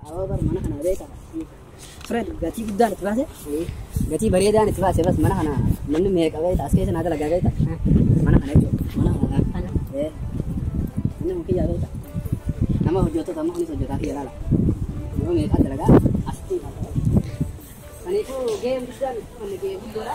Awoo bar mana kana beeka. Fred gatii guddaan itti baase. Gatii bareedaan itti baase bas mana kana namni meeqa beekta as keessa naa dalagaa beekta. Mana kana jechuudha. Mana kana kana. Ee. Inni kun kiyyaa beekta. Nama hojjettoota amma kunis hojjetaa kiyya laala. Nama meeqa dalagaa asitti. Kaniifuu gaheen guddaan itti baase gahee guddoodha.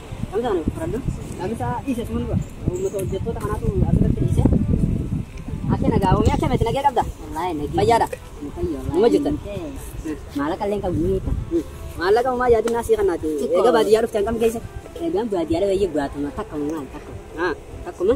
Dhamisaa nuuf fudhadhu. Dhamisaa dhiise suma dura. Uummata hojjettoota kanaatu asirratti dhiise. Akka nagaa oomee akka miti nagee qabda. Wallaahi nagee. Fayyaadha. Numa jirtan. Maallaqa illee qabu ni hiika. Maallaqa uumaa yaadinaa sii kanaati. Egaa baadiyyaa dhufte hangam geessa? Egaan baadiyyaa dhufee baatama takka uumaan takka. Takkuma.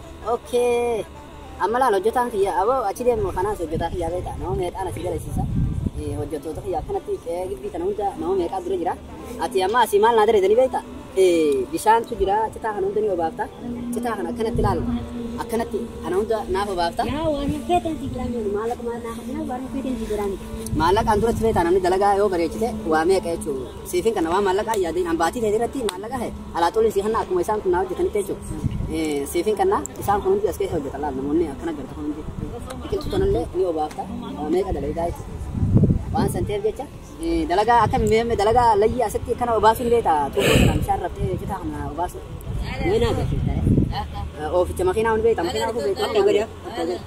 Okay. Amma laal hojjetaan kiyya aboo achi deemu kanaas hojjetaa kiyyaa beektaa nama meeqaan asii galeessiisa. Eh, Hojjettoota kiyya akkanatti qe'ee gibbii kana hunda nama meeqaa dura jira. Ati amma asii maal naa dareedanii beektaa? Eh, Bishaantu jira citaa kana hunda ni obaafta. Citaa kana akkanatti laal. Akkanatti kana hunda naaf obaafta. Yaa waan feetan si biraa jiru maallaqa maal naa kafnaa waan feetan si biraa miti. Maallaqaan duratti beektaa namni dalagaa yoo bareechite waa meeqa jechuudha. Siifin kana waan maallaqaa hin yaadin. An baatii ta'e irratti maallaqa ta'e alaa xolii si hanna akkuma isaan kun naa hojjetanitti jechuudha. Siifin kana isaan kun hundi as keessa hojjetan laal namoonni akkana garta kun hundi. Biqiltuu kanallee ni obaafta. Waa meeqa dalagaa ibsa. Waan san ta'eef jecha dalagaa akka meemme dalagaa layyii asitti kana obaasuun beekta. Tuubboo kanaan bishaan raftee citaa kana obaasuun. Ni naa gatii. Ooficha makiinaa hundi beekta. Makiinaa hundi beekta.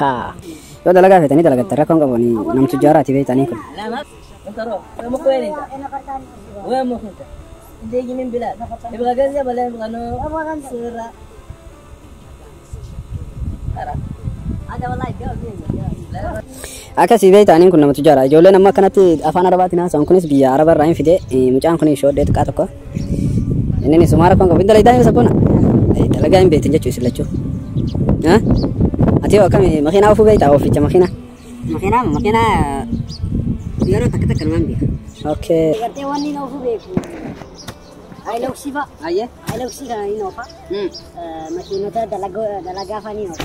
Haa. Yoo dalagaa feetanii dalagattan rakkoon qabu ani nam tujjaaraati beektanii kun. Akkasii beektaniin kun nama tujjaara. Ijoolleen amma akkanatti afaan arabaatiin haasa'an kunis biyya araba irraa hin fide. Mucaan kun shoodhee xiqqaa tokko. Inni ni sumaa rakkoon qabu. Hin dalaydaa hin sabboona. Dalagaa hin beektan jechuu isin lachuu. Ati yoo akkami makiinaa ofuu beektaa oficha makiinaa. Makiinaa makiinaa yeroo takka takka numaan beeka. Okay. Gartee waan inni ofuu beeku. Ayiloksii fa'a. Ayyee. Ayiloksii kana inni ofa. Makiinota dalagaa fa'a ni ofa.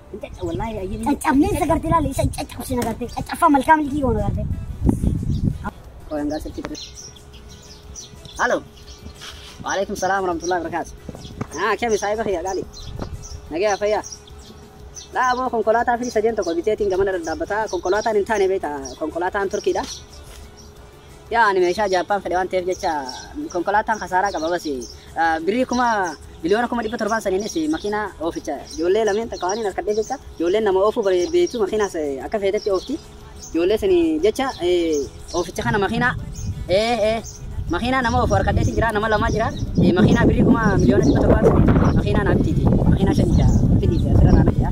Caccabneen isa garte ilaali isa caccabsu sin agarte caccaffaa malkaa milkii goona garte. Koyangaa sirtii ture. Halo. Waalaikum salaam warahmatullahi wabarakatuh. Ah, kemi saahiba kiyya gaali. Nagaya fayyaa. Laa aboo konkolaataa fi sadeen tokko biteetiin gamana dhadhaabbataa konkolaataan hin taane beekta konkolaataan turkiidha. Yaa ani meeshaa Jaappaan fedhe waan ta'eef jecha konkolaataan kasaaraa qaba basi. Birrii kuma biliyoona kuma dhibba torbaan saniinis makiinaa ooficha ijoollee lameen takka waan hin harkadhee jecha ijoolleen nama oofuu beektu makiinaas akka feetetti oofti. Ijoollee sanii jecha ooficha kana makiinaa ee ee makiinaa nama oofu harkadheeti jira nama lamaa jira makiinaa birrii kuma miliyoona dhibba torbaan sanii makiinaa naa bitiiti makiinaa shan ija fidiiti asirra naana jira.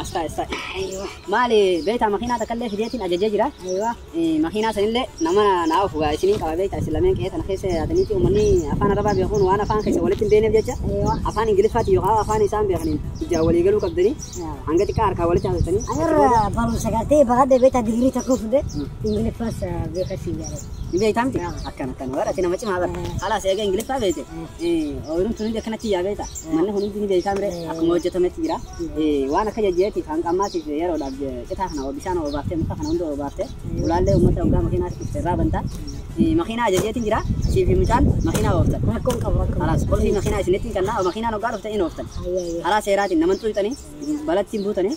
Astaa astaa. Aywa. Maali beektaa makiinaa takka illee fideetiin ajajee jira. Aywa. Makiinaa san illee nama naa ofu gaa isiniin qaba beektaa isin lameen qe'ee tana keessa yaataniiti uummanni afaan arabaa beekuun waan afaan keessan walitti hin beeneef jecha Aywa. afaan ingiliffaatiin yookaan afaan isaan beekaniin ijaan walii galuu qabdanii Aywa. hanga xiqqaa harkaa walitti haasofsanii achi booda Anarra barumsa gartee baradhe beektaa digirii tokko fudhe ingiliffas beeka si yaada. ni beektaa miti Aywa. akkana akkana bara ati nama cimaa bara Eh. halaas eega ingiliffaa beekte Eh. ooyiruun tun hundi akkanatti yaa beektaa Manni kun hundi ni beektaa mire akkuma hojjetametti jira. Waan akka jajjeetti kan qammaatiif yeroodhaaf citaa kana bishaan oobaaftee muka kana hunda oobaaftee ulaallee uummata hoggaa makiinaatti dhufte irraa banta. Makiinaa ajajeetiin jira sii fi mucaan makiinaa ooftan. Rakkoon qabu rakkoon. Kalaas qulfii makiinaa isinitti hin kennaa makiinaan hoggaa dhufte hin ooftan. Karaa seeraatiin naman xuuxxanii balattiin buutanii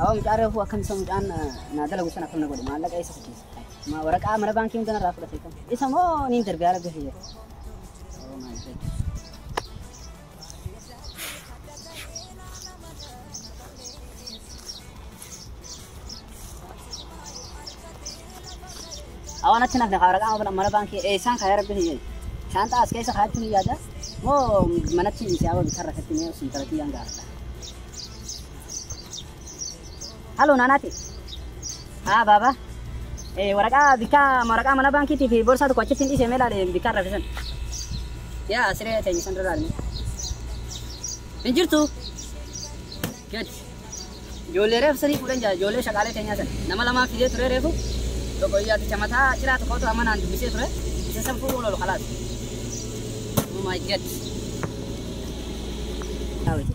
Awaa mucaa reefuu akkam isa mucaan naa dalagu san akkam na godhe maallaqa eessa fichiisa. Ma waraqaa mana baankii hunda narraa fudhate kan. Isa moo niin darbe haala gahe jira. Oh my God. Awaan achi nafne kaara qaama mana baankii eessaan kaaya rabbi hin jedhu. Shaantaa as keessa kaayachuun hin yaada. Moo manatti dhiisee awaa bitaa rakkatti mee osoo intala kiyyaan gaafadha. Halloo naanaati. Haa baaba. Eh, waraqaa bikkaa waraqaa mana baankiitii fi borsaa tokko achitti hin dhiisee mee ilaali bikkaa raffisan. Yaa siree teenya san irraa ilmi. Hin jirtu. Gadi. Ijoollee reefu sanii fuudhen jira ijoollee shaqaalee keenyaa san nama lamaa fidee turee reefu tokko iyyaaticha mataa ciraa tokkootu amma naan dubbisee ture isa san fuudhuun ol kalaas oh my god Daawiti.